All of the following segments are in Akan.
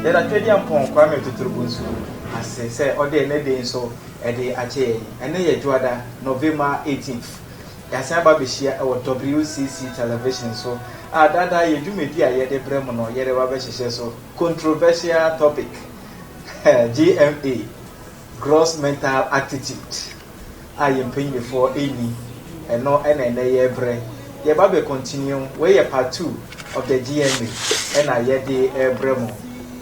yɛda twɛdi ampɔn kwame totorobɔ nso ase sɛ ɔde ɛnɛ de nso ɛde akyɛ yɛn ɛnɛ yɛ dwoada november 18th yɛasan aba abɛhyia ɛwɔ wcc television so a daadaa yɛ dwumadi a yɛde brɛ mu no yɛde ba bɛhyehyɛ so controversial topic gma Gross mental attitude a yɛn mpanyinfoɔ nni, ɛno na ɛnnɛ yɛrebrɛ. Yɛba bɛ continue, wei yɛ part two of the GMA ɛna yɛde rebrɛ mo.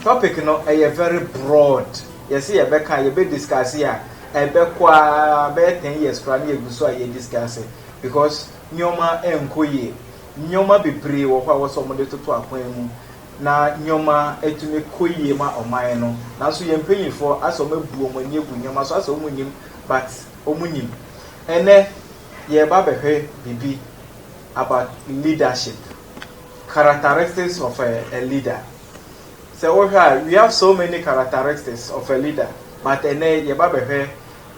Topic no ɛyɛ very broad, yɛse yɛbɛka a, yɛbɛ discuss a, ɛbɛkɔ ara bɛyɛ ten years koraa na yɛgu so a yɛ discuss, because nneɛma nkɔ yie. Nneɛma bebree wɔ hɔ a ɛwɔ sɛ wɔde toto akwan mu. na nneɛma atumi kɔ yie ma ɔman no nanso yɛn mpanyinfoɔ asɛ wɔn abu wɔn ani agu nneɛma so asɛ wɔn nnim but wɔn nim ɛnɛ yɛreba bɛhwɛ biribi about leadership characteristics of a, a leader sɛ wohwɛ a we have so many characteristics of a leader but ɛnɛ yɛba bɛhwɛ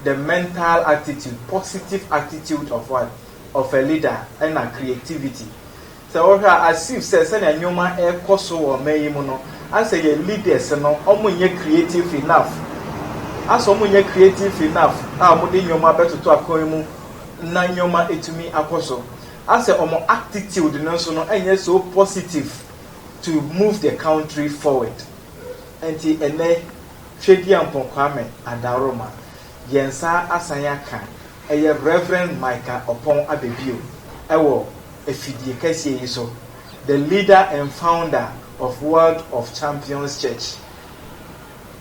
the mental attitude positive attitude of what of a leader ɛna creativity Sɛ wohwɛ a as if sɛ sɛnea nneɛma rekɔ so wɔ ɔman yi mu no asɛ yɛn leaders no wɔn nyɛ creative enough asɛ wɔn nyɛ creative enough a wɔn de nneɛma bɛtoto akwan mu na nneɛma atumi akɔ so asɛ wɔn actitude no nso no ɛnyɛ so positive to move the country forward nti ɛnɛ Twediampɔn Kwame Adaroma yɛn nsa asan aka ɛyɛ Reverend Micah Ɔpɔn aba bio ɛwɔ afidie kɛseɛ yi so, the leader and founder of World of Champions Church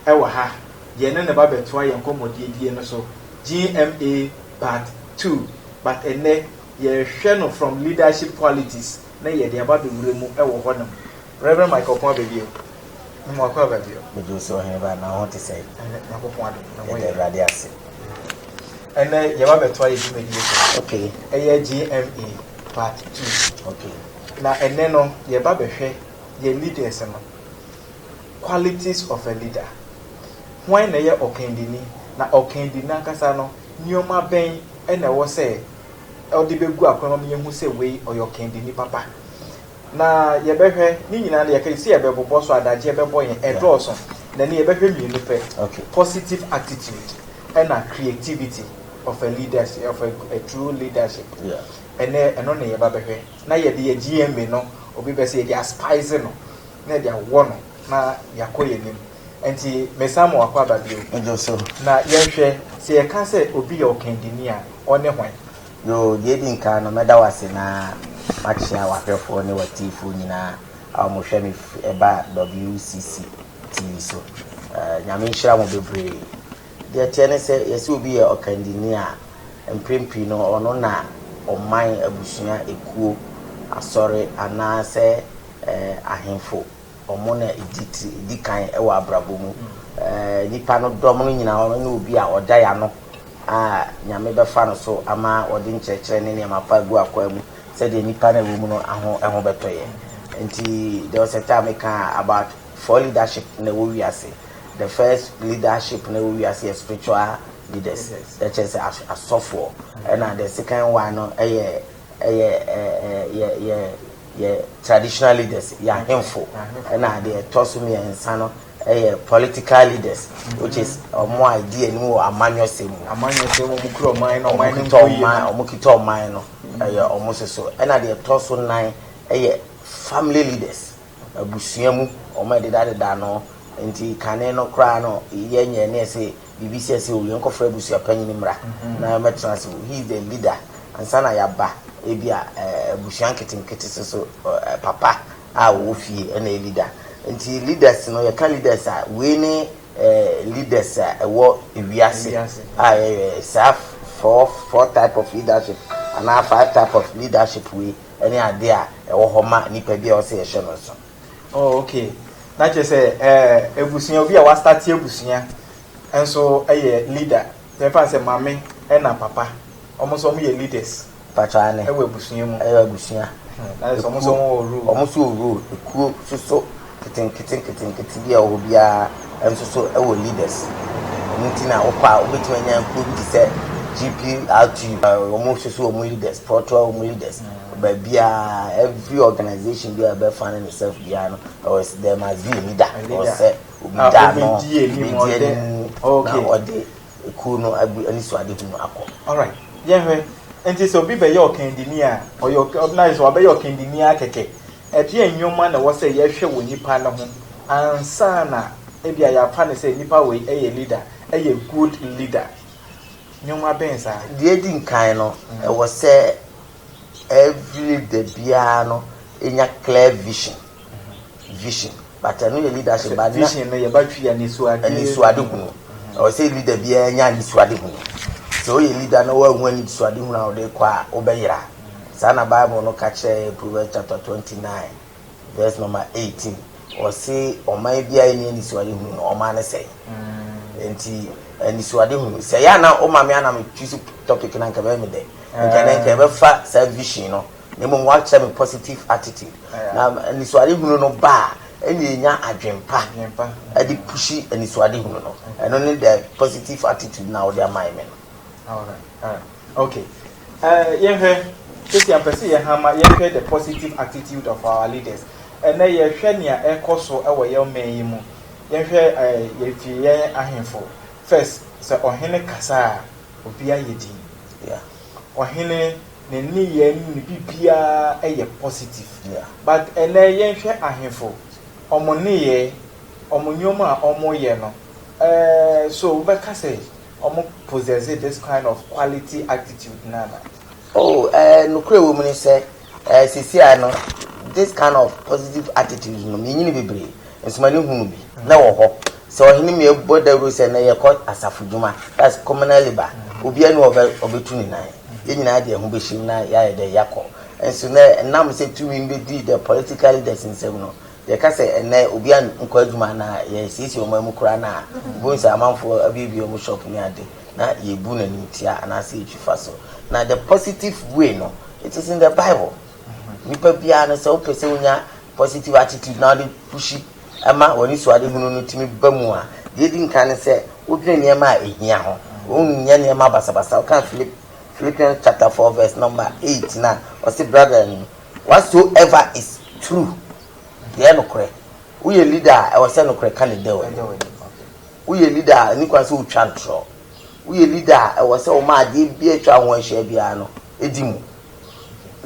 wɔ ha, deɛ ɛne ne ba bɛtoa yɛn nkɔmmɔdiedie no so, GMA part two, but ɛnnɛ yɛrehwɛ no from leadership qualities na yɛde aba abɛwura mu wɔ hɔnom. Rev. Michael Ɔpɔn aba bio. Mmoa kɔ aba bio. Megye wo sɛ ɔhene ba anaa wo ho te sɛn? Ɛnɛ Nyankopɔn adom na wɔyɛ. Yɛda Awurade ase. Ɛnɛ yɛba bɛtoa yɛ dwumadie so. Okay. Ɛyɛ GMA part two. Okay. Na ɛnɛ no yɛba bɛhwɛ yɛ leaders no qualities of a leader. Hwan na ɛyɛ ɔkandini na ɔkandini ankasa no nneɛma bɛn ɛna ɛwɔ sɛ ɔde bɛgu akwan mu ama yɛhu sɛ wei ɔyɛ ɔkandini papa. Na yɛbɛhwɛ, ne nyinaa no yɛka sɛ yɛbɛbobɔ so adagyeɛ bɛbɔ yɛn, ɛdɔɔso, na ɛnnɛ yɛbɛhwɛ mmienu pɛ, positive attitude ɛna creativity of a leadership, of a true leadership, ɛnnɛ ɛno na yɛba bɛhwɛ, na yɛde yɛn GMA no, obi bɛ sɛ yɛde aspice no, na yɛde awɔ no na yɛakɔ yɛn anim. Ɛnti mesan ma wakɔ aba bio, na yɛnhwɛ, sɛ yɛka sɛ obi yɛ ɔkandini a, ɔne hwan? Yoo, deɛ edi nkan no, mɛda wo ase na makyea w'ahwɛfoɔ ne w'atiifoɔ nyinaa a wɔhwɛ me firi ɛba WCC TV so. Nyame nhyira mo bebree. Deɛ ɛteɛ ne sɛ, yɛse obi yɛ ɔkandini a, mprɛn pii no, ɔno na ɔman, abusua, ekuo, asɔre, anaasɛ ahemfo. Wɔn na edi tiri edi kan wɔ abrabɔ mu. Nnipa no dɔm no nyinaa wɔn ne obi a ɔda yɛn ano a Nyame bɛfa no so ama wɔde nkyerɛkyerɛ ne nneɛma pa agu akwaa mu sɛdeɛ nnipa no a ɛwɔ mu no aho ɛho bɛtɔ yɛn. Nti there was a time me kaa about four leadership na ɛwɔ wiase. The first leadership na ɛwɔ wiase yɛ spiritual leaders na ɛkyerɛ sɛ as asɔfoɔ ɛna the second one no ɛyɛ ɛyɛ ɛɛ yɛ yɛ yɛ traditional leaders, yɛ ahemfo, ɛna deɛ ɛtɔ so mmiɛnsa no yɛ political leaders which is wɔn a ɛdi anim wɔ amanyɔsɛm mu. Amanyɔsɛm wɔn kura ɔman no, ɔman no nkɔ yie. Wɔn kita ɔman no, ɛyɛ wɔn soso. Ɛna deɛ ɛtɔ so nan yɛ family leaders, abusua mu wɔn a ɛdedadeda ano. Nti kane no koraa no yɛnyɛ ne yɛse biribi sɛ sɛ o yɛnkɔfrɛ abusua panyin mmra na ɔmmɛtena ase o, he is the leader, ansa na yɛaba ebia abusua nketenkete so so papa a ɔwɔ fie na ɛyɛ leader. Nti leaders no, yɛka leaders a, wei ne leaders a ɛwɔ wiase a yɛyɛ saa four four type of leadership anaa five type of leadership wei ne adeɛ a ɛwɔ hɔ ma nnipa bi a ɛwɔ sɛ yɛhyɛ no nso. Oh ok na kyerɛ sɛ eh, abusua obi a wastarte abusua nso yɛ leader yɛmfa sɛ mame ɛna papa ɔmo nso ɔmo yɛ leaders mpakyɛ ane ɛwɔ abusua mu ɛyɛ abusua hmm, na sɛ ɔmo nso ɔmo wɔ rule ɔmo nso wɔ rule ekuo soso ketenkete nketenkete bi a ɔwɔ biara nso so ɛwɔ leaders ɔmo ti na ɔkɔ a wobɛtumi anya nkuo bi te sɛ GPRTU ɔmo soso ɔmo leaders prɔtoa ɔmo leaders Baabiara, every organisation biara a ɛbɛ fane ne sɛf biara no, ɛwɔ sɛ there must be a leader, ɛwɔ sɛ obi da ano, obedi anim na ɔde ekuo no agu anisoadehu no akɔ. Alright, yɛn hwɛ, nti sɛ obi bɛyɛ ɔkandini a, ɔyɛ ɔk, na ayɛ sɛ wabɛyɛ ɔkandini ara kɛkɛ, ɛdeɛn nnoɔma na ɛwɔ sɛ yɛhwɛ wɔ nipa no ho ansa na ebia yɛafa no sɛ nipa wei yɛ leader, yɛ good leader? Nneɛma bɛn saa? Deɛ edi nkan no, ɛwɔ sɛ every leader biara no nya clear vision. Vision. But ɛno yɛ leadership. But vision no yɛba twi anisoade. Anisoade hunu. Ɛwɔ sɛ leader biara nya anisoade hunu. Sɛ woyɛ leader na woanhu anisoade hunu a wode kɔ a, wobɛyera. Saa na Bible no ka kyerɛ yɛn, Proverbs chapter twenty nine. Verse number eighteen, ɔse ɔman biara nni anisoadehunu no, ɔman no sɛe. Nti anisoadehunu, sɛ ɛyɛ a na woma me a na metwisi topic no anka ɛbɛyɛ me dɛ. Nka na nka ɛbɛfa saa vision no, na mmom woakyerɛ me positive attitude. Na anisoadehunu no ba a, ɛnna yɛnya adwene pa de pushi anisoadehunu no. Ɛno ne the positive attitude no a wode amae me no. Alright, alright, okay. Yɛnhwɛ, seesei a mpɛ sɛ yɛn ha ma yɛhwɛ the positive attitude of our leaders. Ɛnnɛ yɛhwɛ nea ɛkɔ so wɔ yɛn man yi mu. Yɛnhwɛ yɛfi yɛn ahemfo. First, sɛ ɔhene kasa a, obi ayɛ din. Ɔhene ne nneyɛe ne ne biribiara yɛ positive. But ɛnnɛ yɛnhwɛ ahemfo, wɔn nneyɛe, wɔn nneɛma a wɔyɛ no, so wobɛka sɛ Ɔmo possesse this kind of quality attitude no ana? Oh, eh, nokorɛ a ɛwɔ mu ne sɛ, eh, seesei no, this kind of positive attitude no, menyini bebree, nso m'ani hu no bi. Na ɛwɔ hɔ sɛ ɔhene mi bɔ dawuro sɛ nnɛ yɛkɔ asafo dwuma, that's communal labour, obiara ni hɔ a ɔbɛtu ne nan, yɛn nyinaa de yɛn ho bɛhyem na yɛayɛ dɛ yɛakɔ. Nso nnɛ, ɛnam sɛ tumi no bɛdi the political leaders nsam no, Yɛka sɛ ɛnnɛ obiara nkɔ adwuma anaa yɛasiesie wɔn amu koraa no a, wubehu sɛ amanfoɔ abuebue wɔn shop ne ade, na yɛbu no animtia anaasɛ yɛtwi fa so. Na the positive way no, it is in the Bible. Nipa biara no, sɛ wopɛ sɛ wonya positive attitude na wode pushi ma w'anisuadehunu no tumi ba mu a, deɛ ɛdi nkan ne sɛ wodwene nneɛma a ɛhia ho. Wonyɛ nneɛma basabasa. Woka Philip, Philippians chapter four verse number eight no a, ɔse, Brethren, Whatsoever is true, deɛ ɛyɛ nokorɛ. Woyɛ leader a, ɛwɔ sɛ nokorɛ ka ne dɛ w'anim. Woyɛ leader a, ɛnni kwan sɛ wotwa ntorɔ. Woyɛ leader a, ɛwɔ sɛ woma adeɛ biara a atwa wo ho ahyia biara no di mu.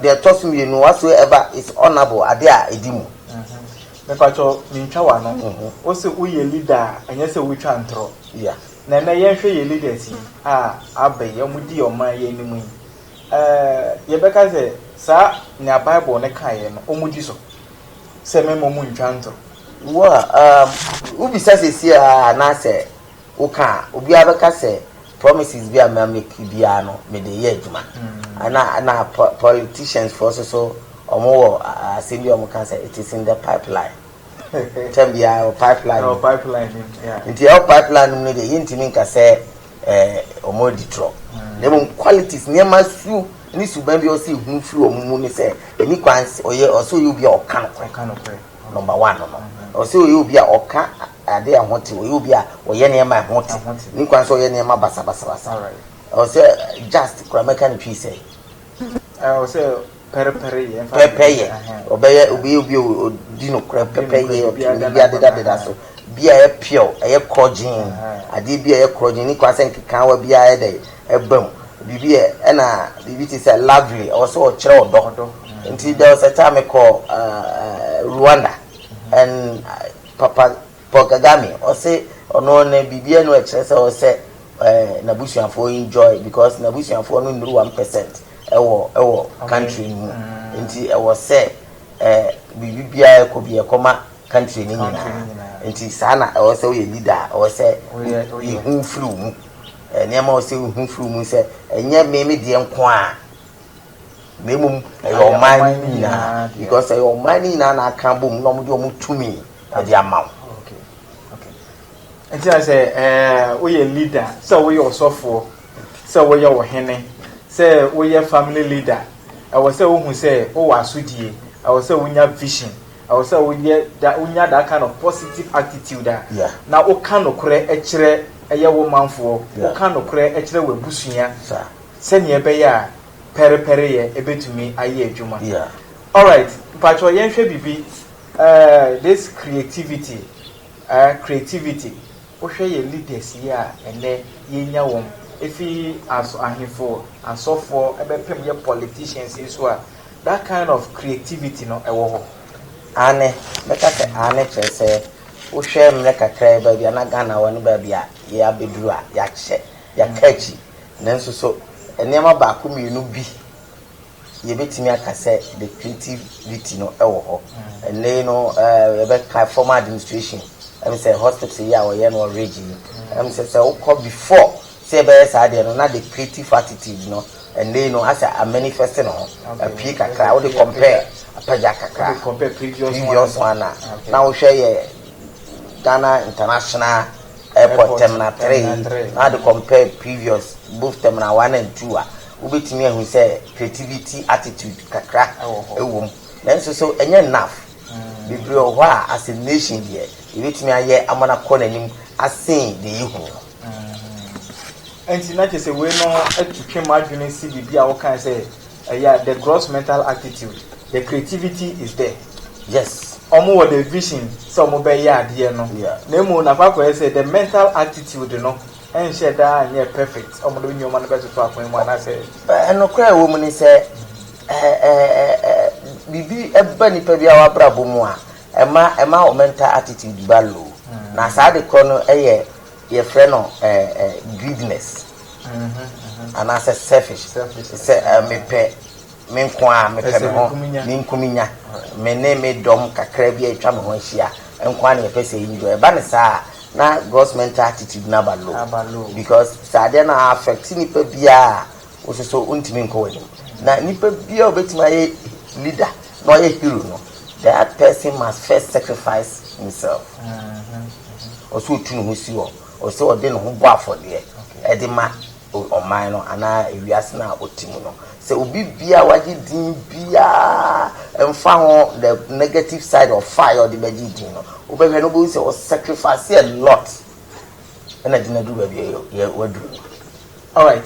Deɛ ɛtɔ so mmienu, whatsoever is honourable, adeɛ a ɛdi mu. Me pa kyɛw, me ntwa w'ano. Wo se woyɛ leader a, ɛnyɛ sɛ wotwa ntorɔ. Na ɛnnɛ yɛn hwɛ yɛn leaders yi a aba yi, wɔn di ɔman yi anim yi. Yɛbɛka sɛ saa nea Bible no kaeɛ no, wɔdi so, sɛ mmarima mu ntwa ntorɔ. Wo a wobisa seesei a anaasɛ woka a, obiara bɛka sɛ promises bi a ma make biara no mede yɛ adwuma. Ana na politicians foɔ nso so wɔwɔ asɛm bi a wɔka sɛ it is in the pipeline. Tɛm biara wɔ pipeline mu. Nti ɛwɔ pipeline no mu no deɛ yɛntumi nka sɛ. Ɛɛ, wɔadi torɔ. Na mmom qualities, nneɛma su ne suban bi a ɔsɛ yɛhunu firi wɔn mu ne sɛ, ɛnni kwan sɛ ɔyɛ, ɔsɛ ɔyɛ obi a ɔka nokorɛ. Number one no no, ɔsɛ ɔyɛ obi a ɔka adeɛ a ɛho te, ɔyɛ obi a ɔyɛ nneɛma a ɛho te. Ɛnni kwan sɛ ɔyɛ nneɛma basabasabasa. Ɔsɛ just koraa mɛka no twi sɛ. Pɛpɛyɛ, ɔbɛyɛ obi obi a ɔdi nokorɛ pɛpɛyɛ, ɔtwe ne biribi adedadeda so, biribi a ɛyɛ pure, ɛyɛ korɔgyeen, adeɛ bi a ɛyɛ korɔgyeen, nni kwan sɛ nkekaawa biara yɛ dɛn, ɛba mu, biribi a, ɛna biribi te sɛ lovely, ɔwɔ sɛ ɔkyerɛ ɔdɔ, nti there was a time mekɔɔ Rwanda and papa. Paul Kagame ɔse ɔno ne biribiaa nu ɛkyerɛ sɛ ɔsɛ nabusuafoɔ enjoy because nabusuafoɔ no nnuru one percent ɛwɔ ɛwɔ country no mu nti ɛwɔ sɛ biribi biaa ɛkɔ bi ɛkɔma country no nyinaa nti saa na ɛwɔ sɛ woyɛ leader a ɛwɔ sɛ yehu firi wo mu nneɛma ɛwɔ sɛ wohu firi wo mu sɛ ɛnyɛ me me deɛ nkoaa na mmom ɛyɛ ɔman no nyinaa because ɛyɛ ɔman no nyinaa na aka bom na wɔde wɔn tumi ɛde ama wo. nti na sɛ ɛɛ woyɛ leader sɛ woyɛ ɔsɔfoɔ sɛ woyɛ ɔhene sɛ woyɛ family leader ɛwɔ sɛ wohu sɛ wowɔ asodie ɛwɔ sɛ wonya vision ɛwɔ sɛ woyɛ da wonya that kind of positive attitude a na woka nokorɛ ɛkyerɛ ɛyɛ wo manfoɔ woka nokorɛ ɛkyerɛ w'abusua. sɛnea ɛbɛyɛ a pɛrepɛreyɛ betumi ayɛ adwuma. Alright, mpakyɛw yɛnhwɛ biribi, eh, this creativity, eh, creativity. Wohwɛ yɛn leaders yi a ɛnnɛ yɛanya wɔn, efi aso, ahemfo, asɔfoɔ, ɛbɛpem yɛ politicians yi so a, that kind of creativity no ɛwɔ hɔ? Aane, mɛka sɛ aane kyerɛ sɛ, wohwɛ mmerɛ kakraa yi baabi a na Ghana wɔ ne baabi a yɛabeduru a, yɛakyɛ, yɛaka akyi. Nanso so nneɛma baako mmienu bi yɛbɛtumi aka sɛ the creativity no wɔ hɔ? Ɛnnɛ yi no yɛbɛka formal administration, ɛm sɛ hospital yi a wɔyɛ no wɔ Ridge yi, ɛm sɛ sɛ wokɔ before sɛ yɛbɛyɛ saa deɛ no na the creative attitude no ɛnnɛ yi no asɛ a manifest ne ho apue kakra, wode compare apagya kakra previous one a na wohwɛ yɛ Ghana international ɛkɔ tɛmina three na ɔde compare previous both tɛmina one and two a, wobɛtumi ahu sɛ creativity attitude kakra wɔ mu. Nanso so ɛnyɛ enough? Bebree wɔ hɔ a as a nation deɛ yɛbɛtumi ayɛ ama no akɔ n'anim asen deɛ yɛhu no. Nti na kyerɛ sɛ wei no atu twe m'adwene si biribi a wokae sɛ Ɛyɛ a the gross mental attitude, the creativity is there. Yes. Wɔn wɔ the vision sɛ wɔn bɛ yɛ adeɛ no. Yeah. Na emu no akɔ akɔ yɛ sɛ the mental attitude no nhyɛ da nyɛ perfect. Wɔn de nneɛma no bɛ toto akwan mu anaasɛ. Nokorɛ a ɛwɔ mu ne sɛ biribi ba nipa biara w'abrabɔ mu a ɛma ɛma wo mental attitude ba low. Na saa ade korɔ no yɛ. Yɛfrɛ no greediness anaasɛ selfish, sɛ mepɛ me nko ara, mepɛ me ho, me nkuminya, me ne me dɔm kakra bi a atwa me ho ahyia nko ara na yɛpɛ sɛ yɛyi dɔ. Ɛba no saa a, na gross mental attitude no aba low because sɛ adeɛ no affect nipa biara a, Wo so so wontumi nkɔ w'anim. Na nipa biara obetumi ayɛ leader na ɔyɛ hero no, that person must first sacrifice himself. Ɔsɛ otu ne ho si hɔ, ɔsɛ ɔde ne ho bɔ afɔdeɛ ɛde ma ɔman no anaa ewiase no a ɔte mu no. Sɛ obi biara wagye din biara, mfa ho the negative side of fire ɔde bɛgye din no, wobɛhwɛ no wobɛhu sɛ ɔsacrifice a lot ɛna de no aduru baabi a waduru no. Alright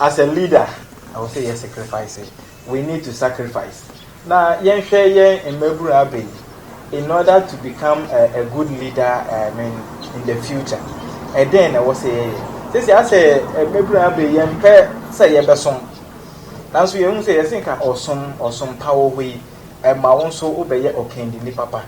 as a leader ɛwɔ sɛ yɛ sacrifice we need to sacrifice na yɛn hwɛ yɛn mmabunu abɛ yi in order to become a, a good leader uh, I mean in the future ɛdɛn na ɛwɔ sɛ yɛyɛ sisi asɛ mmabunu abɛ yɛn pɛ sɛ yɛbɛsom nanso yɛn ho sɛ yɛsɛ nka ɔsom ɔsom pa wɔ hɔ yi ɛma wɔn nso wobɛyɛ ɔkandini papa.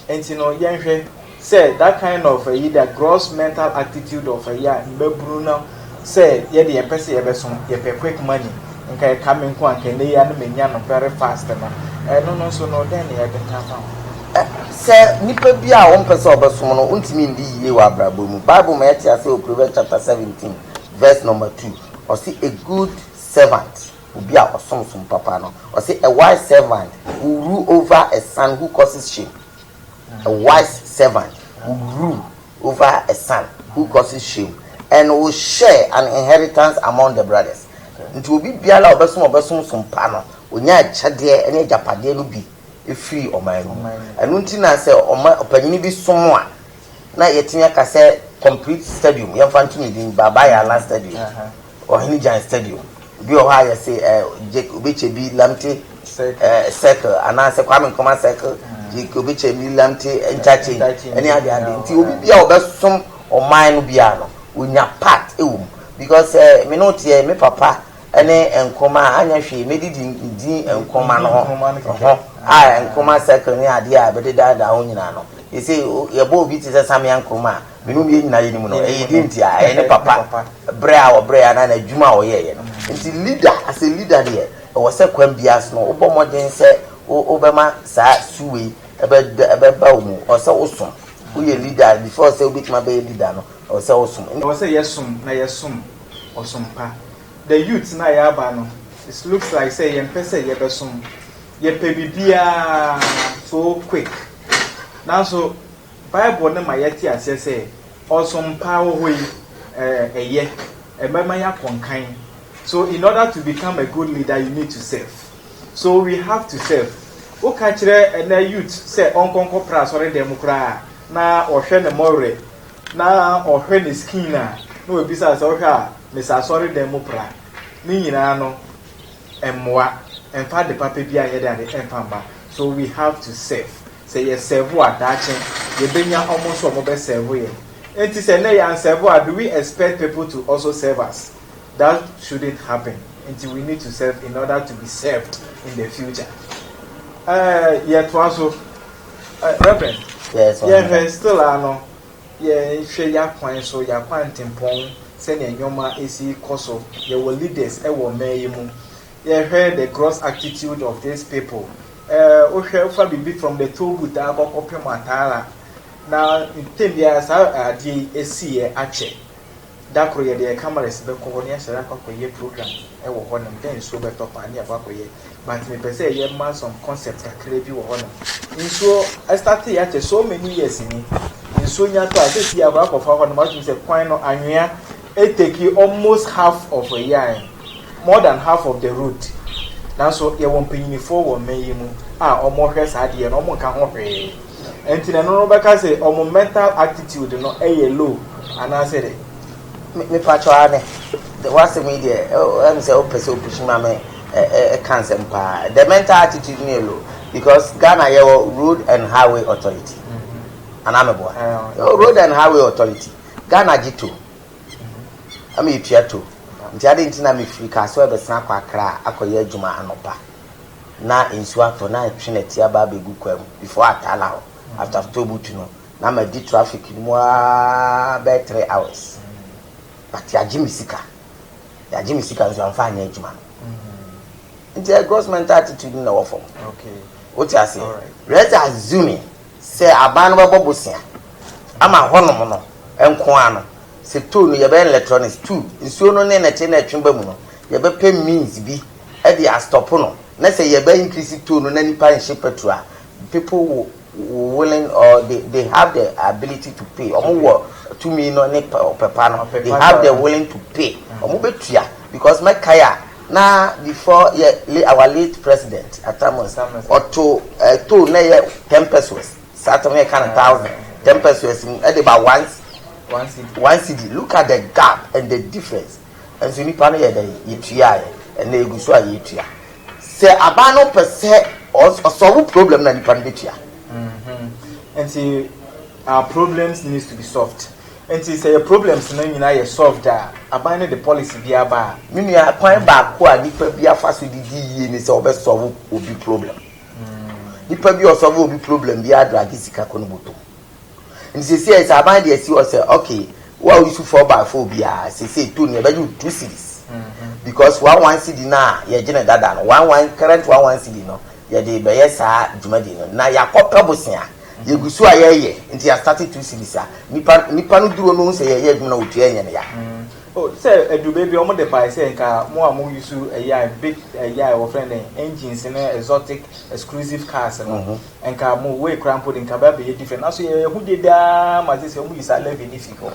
Nti no yɛnhwɛ sɛ that kind of ayi that gross mental attitude of ayi a mmabunu no sɛ yɛde yɛn pɛ sɛ yɛbɛso yɛpɛ quick money nka ɛka me nko a nka ɛnɛ yi ara no menya no very fast no ɛno no nso no dɛn na yɛde ka ho. Sɛ nipa bi a wompɛ sɛ ɔbɛsom no wontumi ndi yie wɔ abrabɔ mu bible ma yɛte aseɛ wɔ Proverbs chapter seventeen verse number two ɔse a good servant Obi a ɔsom som papa no, ɔse, A wise servant will rule over a son who causes shame. A wise servant will rule over a son who causes shame and will share an inheritance among the brothers. Nti obi biara a ɔbɛsom ɔbɛsom som pa no, ɔnya akyɛdeɛ ne agyapadeɛ no bi firi ɔman no mu. Ɛno nti na sɛ ɔma ɔpanyini bi som a, na yɛtumi aka sɛ complete stadium, yɛmfa nto ne din, Baba Yala Stadium. Ɔhene Gyan Stadium. Bi wɔ hɔ a yɛse eh, Jake Obekyɛ bi Lamte eh, Circle anaasɛ Kwame Nkrumah Circle, Jake Obekyɛ bi Lamte Interchange ɛne ade ade. Nti obi bia a ɔbɛsom ɔman no biara no, onya part ɛwɔ mu. Because eh, me ne wo teɛ, me papa ɛne Nkrumah anyɛ hwee, mɛdidi din Nkrumah no ho, ho a Nkrumah Circle ne adeɛ a bɛdedaadaa ho nyinaa no. Yɛse yɛbɔ obi te sɛ Samia Nkrumah a, Binom deɛ nyinaa yɛ ne mu no ɛyɛ deɛ nti a ɛyɛ ne papa brɛ a ɔbrɛɛ anaa n'adwuma a ɔyɛeɛ no nti leader as a leader deɛ ɛwɔ sɛ kwan biara so no wobɔ mmɔden sɛ wobɛma saa su wei ɛbɛba wo mu ɛwɔ sɛ wosom woyɛ leader before sɛ wobɛtumi abɛyɛ leader no ɛwɔ sɛ wosom ɛwɔ sɛ yɛsom na yɛsom ɔsom pa the youth no a yɛaba no it looks like sɛ yɛmpɛ sɛ yɛbɛsom yɛpɛ biribiara so quick nanso Bible no ma yɛte aseɛ sɛ ɔsom pa a ɛwɔ hɔ yi yɛ ɛbɛma yɛakɔ nkan. So in order to become a good leader you need to serve. So we have to serve. Woka kyerɛ ɛnɛ youth sɛ ɔnkɔ nkɔ pra asɔre dɛm koraa na ɔhwɛ ne mɔwerɛ na ɔhwɛ ne skin a na wabisa sɛ ɔhwɛ a mesa asɔre dɛm mu pra ne nyinaa no mmoa ɛmfa ade papa bi anyɛ de ade ɛmfa mma. So we have to serve. Sɛ yɛ sɛvo a daakye yɛbɛnya wɔn nso wɔn bɛ sɛvo yɛn, ɛnti sɛ nnɛ yɛn sɛvo a do we expect people to also serve us? That shouldn't happen, ɛnti we need to serve in order to be served in the future. Ɛɛ yɛ toa so ɛɛ Reverend, yɛn hwɛ still a no yɛn hwɛ yɛ akwan so, yɛ akwantempɔn sɛnea nnoɔma ɛsi kɔ so, yɛwɔ leaders ɛwɔ mmaa yi mu, Yɛhwɛ the gross attitude of these people, eh, wohwɛ wofa biribi from the toll booth a kɔ kɔpem Ataala, na ntɛm biara saa adeɛ yi asiiɛ akyɛ. Da koro yɛde yɛn cameras bɛkɔ hɔ na yɛasɔre akɔ akɔyɛ program wɔ hɔnom, dɛ nsuo bɛtɔ paa na yɛakɔ akɔyɛ, but mepɛ sɛ yɛma some concept kakra bi wɔ hɔnom. Nsuo ɛstarteeɛ akyɛ so many years ni, nsuo nya tɔ a, seesei akɔ akɔfa hɔnom, wotumi sɛ kwan no anwea, E take almost half of a year en, more than half of the road, nanso yɛwɔ mpanyinifoɔ wɔ mmɛn yi mu a wɔn hwɛ saa adeɛ no wɔn nka ho hwee, ɛnti na ɛno no bɛka se wɔn mental attitude no yɛ low anaa sɛ dɛ. Me me pakyɛw aane, w'asɛm yi deɛ ɛyɛ me sɛ wo pɛ sɛ wo pushi ma me ɛka nsɛm paa, the mental attitude no yɛ low because Ghana yɛwɔ road and highway authority anaa me boa, yɛwɔ road and highway authority. Ghana gye tow ma yetua tow nti adɛn nti na mefiri Kasoɛ bɛsan akɔ Accra akɔyɛ adwuma anɔpa na nsuo atɔ na atwe nɛte aba abɛgu kwa mu before Atala hɔ after Tollbooth no na madi traffic no mu aa bɛyɛ three hours but yɛagye me sika yɛagye me sika nso amfa anyɛ adwuma no nti ɛyɛ gross mental attitude no na ɛwɔ fam wote aseɛ let's assuming Sɛ aban no bɛbɔ bosea ama hɔnom no nko ara no, sɛ tow no yɛbɛyɛ no electronics tow nsuo no ne nɛteɛ no a ɛtwe ba mu no, yɛbɛpɛ means bi de astɔpo no, na sɛ yɛbɛ increase tow no na nnipa nhyɛ petrol a, people will willing or they, they have the ability to pay, wɔn wɔ tumi no ne ɔpɛ pa no, they have the willing to pay, wɔn bɛtua because mɛkae a, Na before yɛ le our late president atamus ɔto eh, toll na yɛ ten pesos saa tam yɛ ka no thousand ten pesos mu ɛde ba once one cedi one cedi look at the gap and the difference nso nipa no yɛ dɛ yɛtua yɛ ɛnna egu so a yɛtua sɛ aban no pɛ sɛ ɔsɔwo problem na nipa no bɛtua. Mm -hmm. Nti our problems needs to be solved. Nti sɛ yɛ problems no nyinaa yɛ solved a, aban no de policy bi aba a. Me nua, kwan baako a nipa bi afa so de di yie ne sɛ ɔbɛ solve obi problem. Nipa bi a ɔsolve obi problem biara drage sika kɔ ne bɔtɔ mu. Nti seesei sɛ aban de asi hɔ sɛ okay, wo a wo use four by four biara seesei tone yɛbɛgye wo two cedis because one one cedi no a yɛgye no dada no, one one current one one cedi no yɛde rebɛyɛ saa dwumadi no na yɛakɔpɛ bosea. Yɛgu so a yɛyɛ nti yɛ asate two series a nipa nipa no duro no ho sɛ yɛyɛ adwuma na otua yɛn ya. Oh sɛ ɛduru baabi a wɔn de bae sɛ nka mo a mo yusu ɛyɛ a big ɛyɛ a wɔfrɛ no engines ne exotic exclusive cars no nka mo way kura mpo de nka bɛ abɛyɛ different nanso yɛ ɛho dede ara ma gye sɛ wɔn yi saa levy no fi hɔ.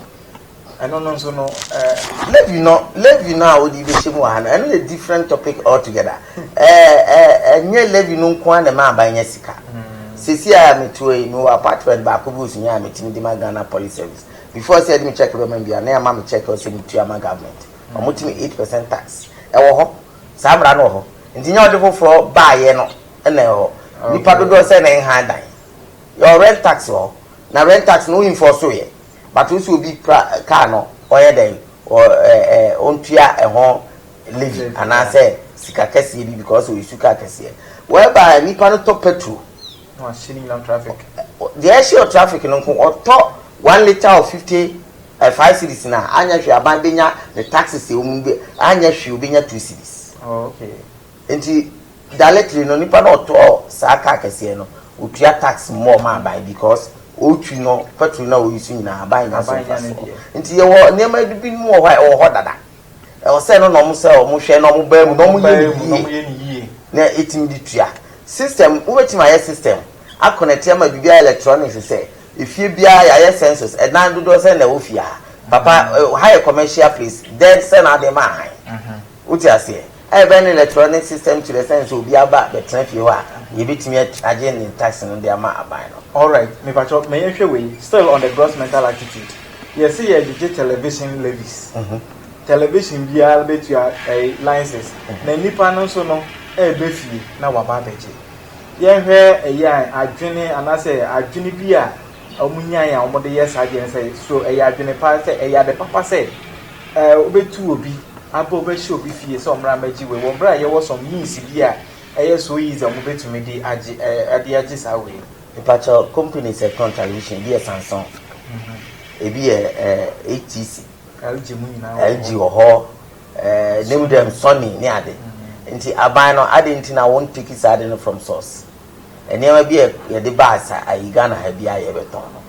Ɛno no nso no eh. Levi no, Levi no a wode bɛhyɛ mu wɔ ha no, ɛno yɛ different topic altogether. Ɛnyɛ Levi no nko ara na ɛma aban nya sika. Sɛsi a meteɛ yi, mewɔ apartment baako bi wɔ Sunyani a metumi de ma Ghana Police Service. Before sɛ yɛde me check bɛma me biara, na yɛama me check sɛ metua ma government. Wɔtumi eight percent tax. Ɛwɔ hɔ. Saa mmara no wɔ hɔ. Nti nyɛ ɔde foforɔ baeɛ no na ɛwɔ hɔ. Nnipa dodoɔ sɛn na ɛnha dan? Yɛwɔ rent tax wɔ hɔ. Na rent tax no wo enforce yɛ. But wo se obi pra car no ɔyɛ dɛn ɔ ɛ ɛ ɔntua ɛho levy anaa sɛ sika kɛseɛ bi because ɔyɛ su car kɛseɛ whereby nipa no tɔ petrol Na wahyɛ ne nyinaa wɔ traffic. ɔ deɛ ɛhyɛ wɔ traffic no nko ɔtɔ one litre of fifty ɛ five cedis no a anyɛ hwee aban bɛnya ne taxes a wɔn bɛ anyɛ hwee ɔbɛnya two cedis. Oh okay. Enti directly no nipa na ɔtɔɔ saa car kɛseɛ no otua tax more ma aban because ɔretwi no petrol na ɔuse nyinaa aban nya so mfasoɔ. Nti yɛwɔ nneɛma bi binom wɔ hɔ a ɛwɔ hɔ dada. Ɛwɔ sɛ no na wɔn sɛ wɔn hwɛ na wɔn baa mu na wɔn yɛ ne yie na ɛtumi de tua. System wobɛtumi ayɛ system akɔnɛte ama biribiara electronics sɛ efie biara yɛayɛ census ɛdan dodoɔ sɛn na ɛwɔ fie ha papa ha yɛ commercial place dɛn sɛn na wode ma ahan wote aseɛ. A Yɛbɛyɛ no electronic system kyerɛ sɛn sɛ obi aba bɛtena fie hɔ a yɛbɛtumi akyagye ne tax no de ama aban no. Alright, mepakyɛw ma yɛnhwɛ wei, still on the gross mental attitude, yɛse yɛregyegye television levies, television biara bɛtua ɛyi license, na nnipa no nso no reba fie na waba abɛgye. Yɛnhwɛ ɛyi a adwene anaasɛ adwene bi a Wɔnyae a wɔde yɛ saa adeɛ no sɛ, so ɛyɛ adwene pa, sɛ ɛyɛ ade papa sɛ wobɛtu obi aba wobɛhyɛ obi fie sɛ ɔmmra mmɛgye wei wɔ berɛ a yɛwɔ some means bi a ɛyɛ so easy a wɔbɛtumi de agye de agye saa wei no. Mepakyɛ company sɛ ɛtɔn television ebi yɛ Samsung, ebi yɛ HTC, LG wɔ hɔ, ne mu dɛm Sony ne ade. Nti aban no adɛn nti na wɔnteki saa ade no from source? Nneɛma bi a yɛde ba asa ayi Ghana ha biara yɛbɛtɔn no.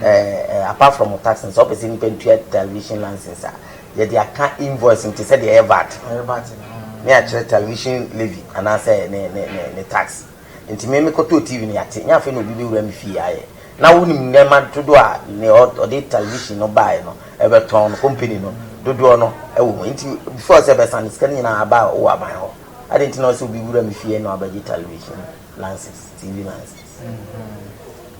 Eh, apart from mo tax no, sɛ wopɛ sɛ nnipa ntua television license a, yɛde aka invoice no te sɛ deɛ ɛyɛ VAT no. Ɛyɛ VAT no. Ne akyerɛ television levy anaasɛ ne ne ne ne tax. Nti me mekɔtɔɔ TV no yɛate, nyɛ afei na obi bɛwura me fie ayɛ. Na wonim nneɛma dodoɔ a nea ɔde television no baeɛ no bɛtɔn no, company no dodoɔ no wɔ mu. Nti before sɛ bɛsan no, sika no nyinaa aba wɔ aban hɔ. Adɛn nti na ɔsɛ obi wura me fie na wabɛgye television lances, TV lances?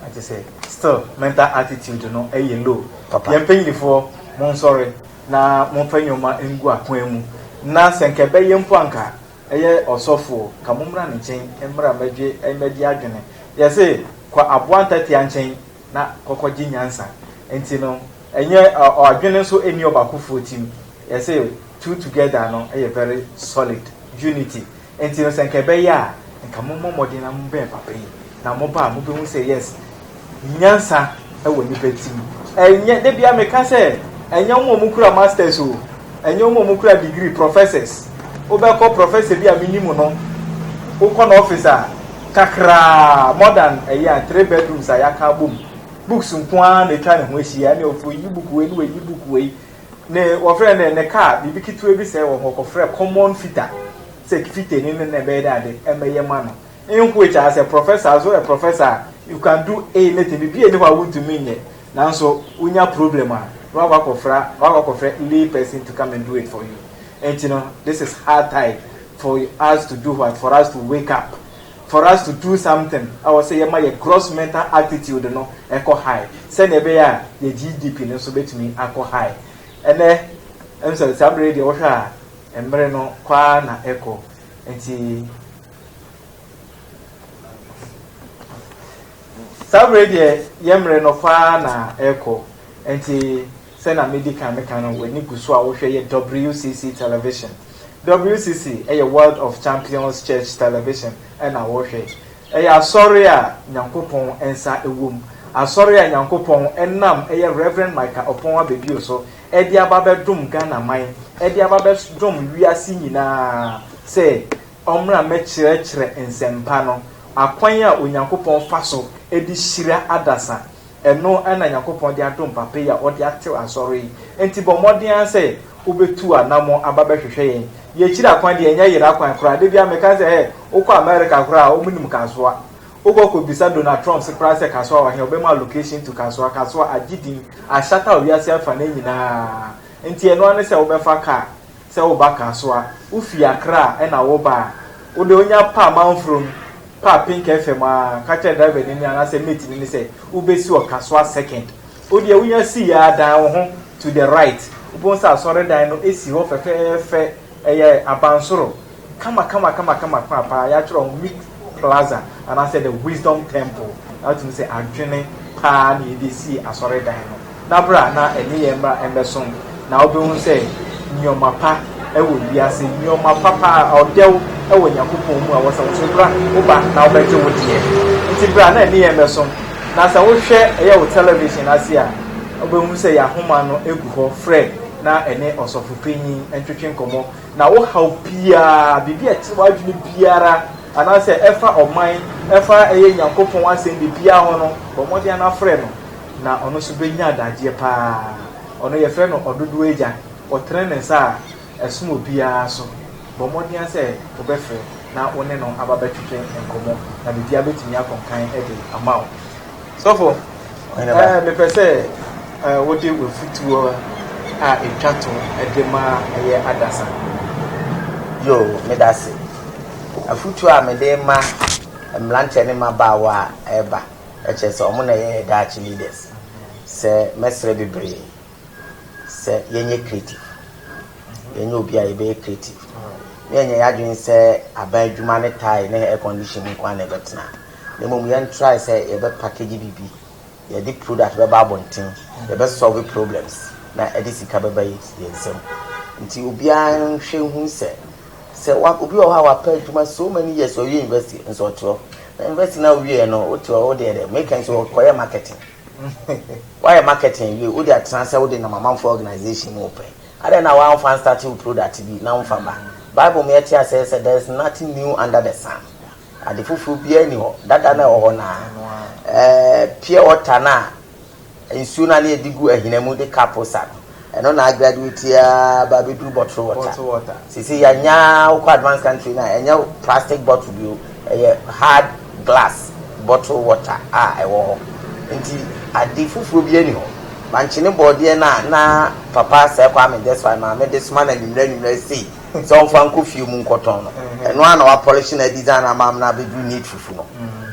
Ate sɛ still mental attitude no ɛyɛ low. Papa. Yɛn mpanyinfoɔ mo nsɔre na mo mfa nneɛma ngu akwan mu na sɛ nka ɛbɛyɛ mpo anka ɛyɛ ɔsɔfoɔ ka mo mmra ne nkyɛn mmra mmɛgye mmɛgye adwene yɛse kɔ aboa ntatia nkyɛn. na kɔkɔgye nyansa. Ntsi no, nnyɛ adwen so nni ɔbaakofoɔ tsim. Yɛse two together no yɛ very solid, unity. Ntsi no sɛ nka ɛbɛyɛ a, nka mommɔ mmɔden na mommɛn papa yi, na moba a mobehu sɛ yes, nyansa wɔ nnipa tsim. Nnyɛ, da biara meka sɛ, nnyɛ wɔn a wɔkura masters o, Ɛnyɛ wɔn a wɔkura degree, professors. Wobɛkɔ professor bi a menim no, wokɔ n'office a, kakraa, more than a year, three bedrooms a yɛaka abom, books nko ara na atwa ne ho ahyia, ɛne ɔfo yi book wei ne wayi book wei, ne wɔfrɛ no dɛn, ne car, biribi ketewa bi sɛe wɔ hɔ, kɔfrɛ common fitter sɛ fitter ni no na ɛbɛyɛ dɛ ade, ɛmmɛyɛ ma no. In which, as a professor, as a professor, you can do anything, biribi a ɛni hɔ a wontumi nyɛ. Nanso wonya problem a na wakɔ akɔfra wakɔ akɔfrɛ lay person to come and do it for you nti no this is high tide for us to do what for us to wake up for us to do something ɛwɔ sɛ yɛma yɛ gross mental attitude no ɛkɔ high sɛnea ɛbɛyɛ a yɛ GDP no nso bɛtumi akɔ high ɛnɛ ɛm sɛ saa mmerɛ deɛ wohwɛ a mmerɛ no kɔ ara na ɛkɔ nti Saa bere yi deɛ yɛn mmere no kɔ ara na ɛrekɔ, enti sɛnea medi kan meka no, w'ani gu so a wohwɛ yɛ WCC television. WCC yɛ World of Champions Church Television na wohwɛ. Ɛyɛ asɔre a Nyankopɔn nsa wom, asɔre a Nyankopɔn nam yɛ Rev. Micah Oppong Abedwuo so de aba abɛdom Ghana man, de aba abɛdom wiase nyinaa sɛ, ɔmmra mmɛkyerɛkyerɛ nsɛmpa no, akwan a Onyankopɔn fa so de hyira adasa, ɛno na Nyankopɔn de adom papa yi a ɔde atew Asɔre yi, enti bɔ mmɔden ara sɛ wobɛtu anamɔn aba bɛhwehwɛ yɛn. Yɛ akyiri akwan deɛ ɛnyɛ yera kwan koraa, da biara meka sɛ, hɛ, wokɔ America koraa a wɔnim Kasoa, wokɔ kɔbisa Donald Trump se koraa sɛ Kasoa wɔ he a, ɔbɛma wo location to Kasoa, Kasoa agye din, ahyata wɔ wiase afa no nyinaa, enti ɛno ara ne sɛ wobɛfa car. sɛ woba Kasoa, wofi Accra na woba a, wode wonya pa Amanfrom pa Pink FM a, ka kyerɛ driver ni no anaasɛ mate no no sɛ wobɛsi wɔ Kasoa Second. Wodeɛ wonya sii a, dan wo ho to the right, wobɛhu sɛ asɔredan no si hɔ fɛfɛɛfɛ, ɛyɛ abansoro. Kamakamakama kwan paa, yɛatwerɛ ho Meek Plaza anaasɛ The Wisdom Temple, na wotumi sɛ adwene paa na yɛde sii asɔredan no, na bra na ɛne yɛn mmra mmɛsom, na wobɛhu sɛ nneɛma pa wɔ wiase, nneɛma pa paa, ɔdɛw wɔ Nyankopɔn mu a ɛwɔ sɛ wosom, bra, woba na wobɛgye wo deɛ, nti bra na ɛne yɛn mmɛsom, na sɛ wohwɛ ɛyɛ wo television ase a, wobɛhu sɛ yɛn ahoma no gu hɔ, frɛ na ɛne ɔsɔfopanyin ntwetwe nkɔmmɔ. Na wo haw biara, biribi a ɛkyere w'adwene biara, anaasɛ ɛfa ɔman, ɛfa ɛyɛ Nyankopɔn asɛm biribiara ho no, bɔ mmɔden ara frɛ no, na ɔno nso bɛnya adagyeɛ pa ara. Ɔno yɛfrɛ no Ɔdodoɔ Agya. Ɔtene ne nsa a ɛsom obiara so. Bɔ mmɔden ara sɛ wobɛfrɛ na wo ne no aba bɛtwetwe nkɔmmɔ, na biribiara bɛtumi akɔ nkan de ama wo. Sɔfo, ɛɛ mepɛ sɛ ɛɛ wode w'afutuo a ɛtwa to ɛde ma ɛyɛ adasa. Yoo, meda ase. Afutuo a mede ma mmeranteɛ ne mmabaawa a ɛreba, ɛkyerɛ sɛ wɔn na ɛyɛ yɛn daakye leaders, sɛ mɛsrɛ bebree sɛ yɛnyɛ creative, yɛnyɛ obi a yɛbɛyɛ creative, na yɛnyɛ yɛn adwene sɛ aban adwuma ne tae ne air condition mu nko ara na ɛbɛtena. na mmom yɛn try sɛ yɛbɛ package biribi yɛde product bɛba abɔnten yɛbɛ solve problems na ɛde sika bɛba yɛn nsam nti obiara nhwɛ nhu sɛ sɛ obi wɔ hɔ a wapɛ adwuma so many years ɔwie university nso ɔte hɔ na university na ɔwie no wote hɔ wode ɛdɛ meka nso ɔkɔyɛ marketing wayɛ marketing wie wode atena sɛ wode nam amanfoɔ organization mu pɛ adɛn na wamfa nstate wo product bi na womfa ba bible mu yɛte asɛ sɛ there is nothing new under the sun Ade foforɔ biara nni hɔ. Dada no a ɛwɔ hɔ no ara. Ɛɛ pure water no a nsuo no a na yɛde gu ahina mu de ka posa no, ɛno na agraduate ara ba abɛduru bottle water. Seesei yɛanya wokɔ advanced country no a, ɛnyɛ plastic bottle bio, ɛyɛ hard glass bottle water a ɛwɔ hɔ. Nti ade foforɔ biara nni hɔ. Bankye ne borɔdeɛ no a na Papa Sir Kwame Gyesfai maame de soma no anwummerɛ anwummerɛ sei, sɛ ɔmfa nkɔ fie mu nkɔtɔn no. Ɛno ara na wɔapɔlehye no, adesign no ama no abɛduru need fufu no.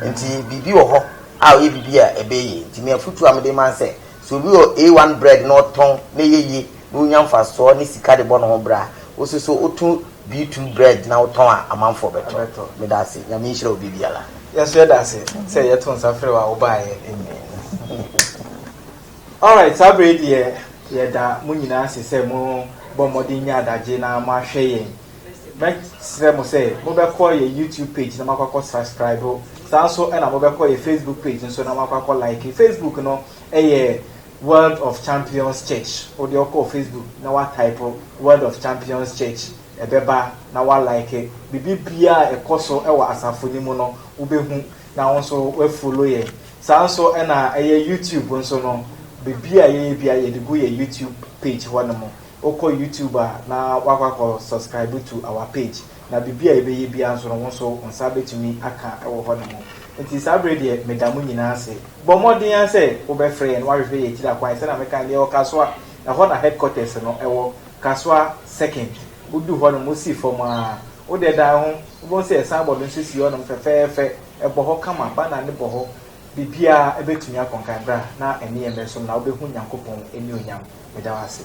Nti biribi wɔ hɔ a ɔyɛ biribi a ɛbɛyɛ yie. Nti me afotuo a mede ma ne sɛ, sɛ obi wɔ A1 bread na ɔtɔn na ɛyɛ yie na ɔnya mfasoɔ ne sika de bɔ ne ho bra a, wo nso so woto B2 bread na wotɔn a, amanfoɔ bɛtɔ. Meda ase. Nyame nhyira obi biara. Yɛn nso yɛda ase sɛ yɛto nsa frɛɛ wo a wobaeɛ. Amen. Alright, saa berɛ yi deɛ yɛda mo nyinaa ase sɛ mo bɔ mmɔden nya adagye na mo ahwɛ yɛn. Mɛ srɛ mo sɛ mo bɛ kɔ yɛ YouTube page na mo akɔ akɔ srascribe, saa nso ɛna mo bɛ kɔ yɛ Facebook page nso na mo akɔ akɔ like. Facebook no ɛyɛ World of Champions Church. Wo deɛ ɔkɔ Facebook na wa type World of Champions Church ɛbɛba na wa like. Bibi biaa ɛkɔ so ɛwɔ asafo no mu no wo bɛ hu. na wo nso wa follow yɛn saa nso na ɛyɛ YouTube nso no bebi a yɛyɛ bia yɛde gu yɛ YouTube page hɔ nom wokɔ YouTube a na wakɔ akɔ subscribe to our page na bebi a yɛbɛyɛ bia nso no wo nso wo nsa bɛtumi aka wɔ hɔ nom nti saa bere deɛ meda mo nyinaa ase bɔ mmɔden ara sɛ wobɛfrɛ yɛn wahwehwɛ yɛ akyiri akwan sɛna meka no yɛwɔ Kasoa ɛhɔ na headquarters no ɛwɔ Kasoa second wodu hɔ nom wosi fam a wode dan ho Wobɛhu sɛ Sabbath no nso si hɔnom fɛfɛɛfɛ, ɛbɔ hɔ kama, banner no bɔ hɔ, biribiara, ɛbɛtumi akɔ. Nkae bra na ɛne yɛn mmɛsom na wobɛhu Nyankopɔn anuonyam. Meda wo ase.